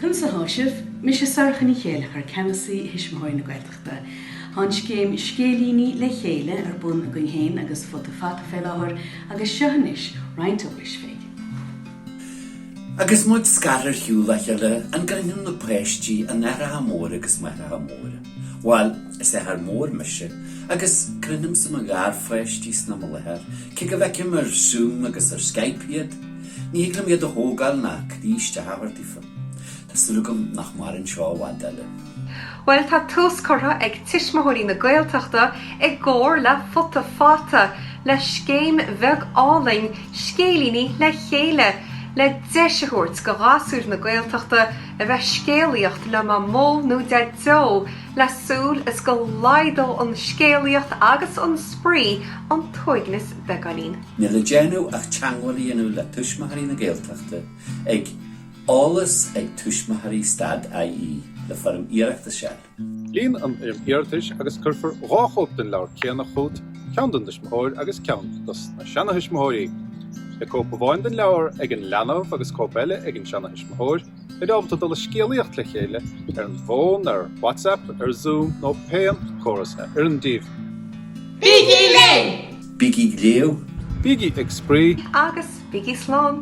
Conas atháimid? Is mise Sorcha Ní Chéilleachair, Ceannasaí Thuismitheoirí na Gaeltachta. Tá an scéim 'Scéilíní le Chéile' ar bun againn féin agus Futa Fata fé láthair agus seo anois roinnt eolais fé. Agus muid scartha ar shiúl ó chéile, an gcronaíonn na páistí a n-aithreacha móra agus máithreacha móra? Bhuel, is athair mór mise, agus cronaímse mo gharpháistí is ina mo láthair, cé go bhfeicim ar Zoom agus ar Skype iad! Ní thig liom iad a thógáil ná croí isteach a thabhairt daofa. Tá súil agam nach maireann seo i bhfad eile. Bhuel, tá tús curtha ag Tuismitheoirí na Gaeltachta, i gcomhar le Futa Fata, le scéim bheag álainn, Scéilíní le Chéile, le deis a thabhairt do ghasúir na Gaeltachta a bheith ag scéalaíocht le Mamó nó Deaideo, le súil is go laghdódh an scéalaíocht agus an spraoi an t-uaigneas beagáinín. Níl le déanamh ach teagmháil a dhéanamh le Tuismitheoirí na Gaeltachta ag Eolas ag Tuismitheoirí stad IE le foirm iarratais a fháil. Líon an fhoirm iarratais agus cuirfear dhá chóip den leabhar céanna chugat, ceann don tuismitheoir agus ceann dos na seanathuismitheoirí. Beidh cóip amháin den leabhar ag an leanbh agus cóip eile ag an seanathuismitheoir. Beidh sibh ábalta dul ag scéalaíocht le chéile ar an bhfón, ar WhatsApp, ar Zoom nó pén córas a oireann daoibh. Bígí linn! Bígí ag léamh! Bígí ag spraoi! Agus bígí slán!